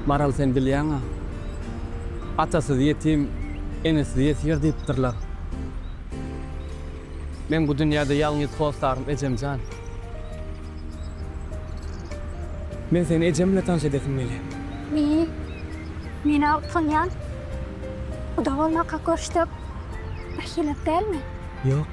Maral sen bilýäňa, atasyz ýetim, enesiz ýesir diýipdirler. Men bu dünýäde ýalňyz hossarym, ejem jan. Men seni ejem bilen tanyş edesim gelýär. Meý, men-ä utanýan. Guda bolmaklyk görüşdik. Birhili dälmi? Ýok.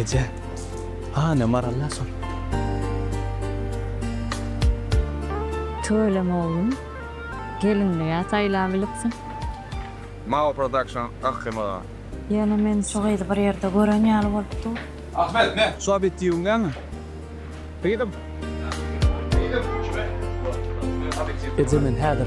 Eje, hany Maralla sor. Tüweleme oglum, gelinlige saýlap ilipsiň. Mao production Akgym aga. Ýöne men şu gyzy bir ýerde gören ýaly bolup dur. Ahmet ne? Sap et diýiň däňi. Gyzym. Gyzym. Kime? Eje men häzir.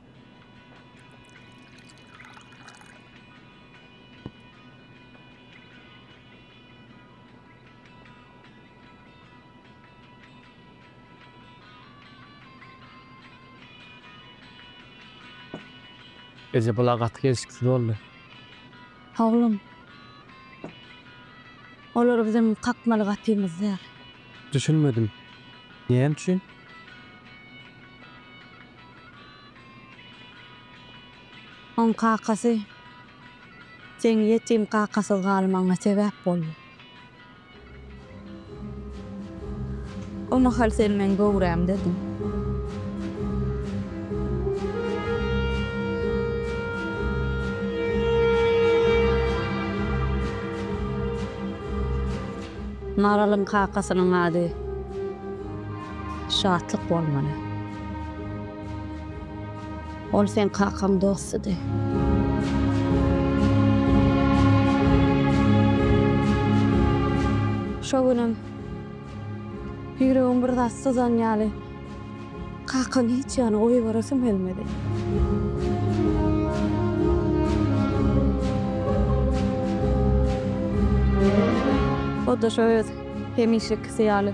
Eje bula gaty gelşiksiz boldy. Oglum. Olar biziň kakmaly gapymyz däl. Düşünmedim. Näme üçin? Oň kakasy seň ýetim kakasyz galmagyňa sebäp boldy. O mahal sen meň göwrämdediň. Maralyň kakasynyň ady. Şatlyk bolmaly. Ol seň kakaň dostudy. Şo günem ýüregim bir zat syzan ýaly, kakamy hiç ýana goýberesim gelmedi. O-da şo öz hemişekisi ýaly.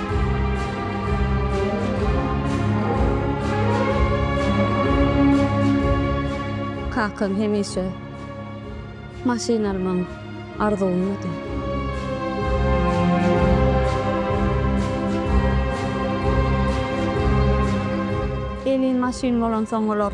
Kakam hemişe maşyn almagyň arzuwynda. Elin maşyn bolansoň olar.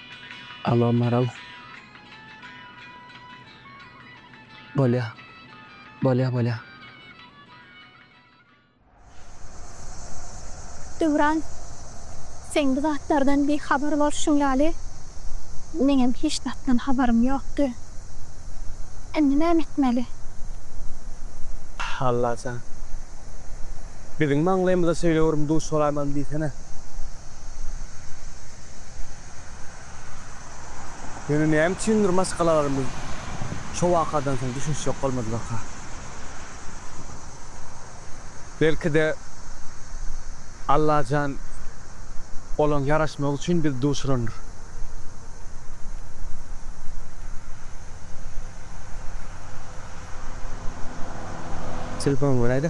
Alo Maral. Bolýa. Bolýa bolýa. Döwran seň bu zatlardan bihabar bolşuň ýaly meňem hiç zatdan habarym ýokdy. Indi näme etmeli? Allajan. Biziň maňlaýymyza söýlewerim duş bolarmyň diýsene. Ýöne näme üçindir maşgalalarymyz şo wakadan soň düşünişjek bolmadylarka. Belki-de, Allajan olaň ýaraşmagy üçin bizi duşurandyr. Telefon göräýdä.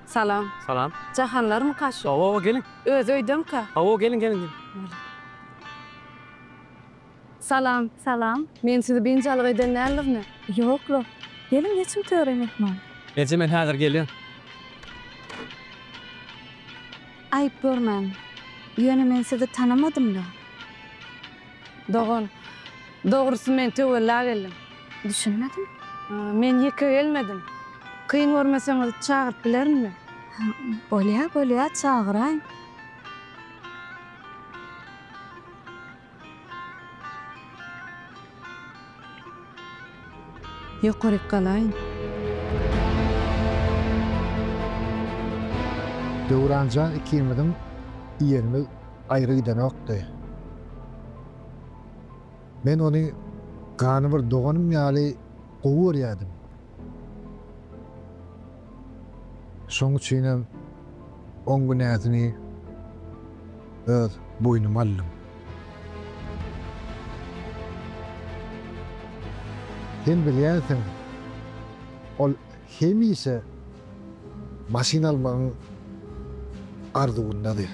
Salam. Salam. Jahanlarmyka şu? Hawa, hawa, geliň. Özi öýdemika? Hawa, geliň, geliň, geliň. Bolup. Salam. Salam. Men sizi biynjalyk eden däldirine? Ýok-la. Geliň, geçiň töre, myhman. Eje, men häzir gelýän. Aýyp görmäň. Ýöne men sizi tanamadym-la. Dogan, dogrusy men töwella geldim. Düşünmedim. Men ýeke gelmedim. Kyn görmeseňiz çagyryp bilerinmi? Bolýa, bolýa, çagyraýyň. Ýokaryk galaýyn. Döwran jan ikimiziň ýerimiz aýry gidenokdy. Men ony gany bir doganym ýaly gowy görýärdim. Şoň üçinem on günäsini öz boýnuma aldym. Sen bilýänsiň, ol hemişe maşyn almagyň arzuwyndady.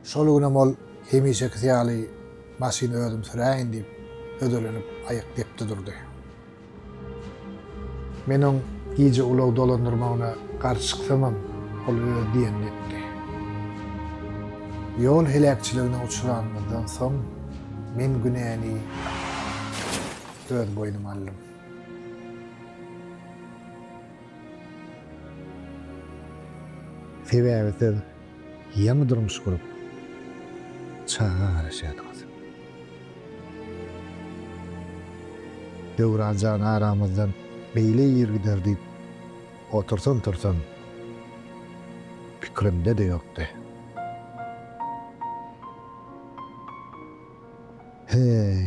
Şol günem ol hemişekisi ýaly maşyny özüm süräýin diýip, hödürlenip aýak depdi durdy. Men oň gije ulag dolandyrmagyna garşy çyksamam, ol öz diýenini etdi. Ýol heläkçiligine uçranymyzdan soň, men günäni öz boýnuma aldym. Sebäbi siz Ýaňy durmuş gurup, çaga garaşýadyňyz. Döwran jan aramyzdan beýle ir gider diýip otursam-tursam pikirimde-de ýokdy. Heý,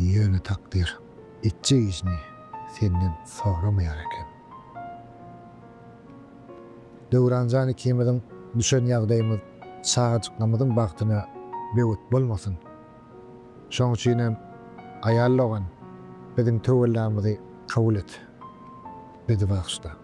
ýöne takdyr etjek işini senden soramaýar eken. Döwran jan ikimiziň düşen ýagdaýymyz çagajyklarymyzyň bagtyna böwet bolmasyn. Şoň üçinem aýal dogan biziň töwellamyzy kabul et. Bizi bagyşla.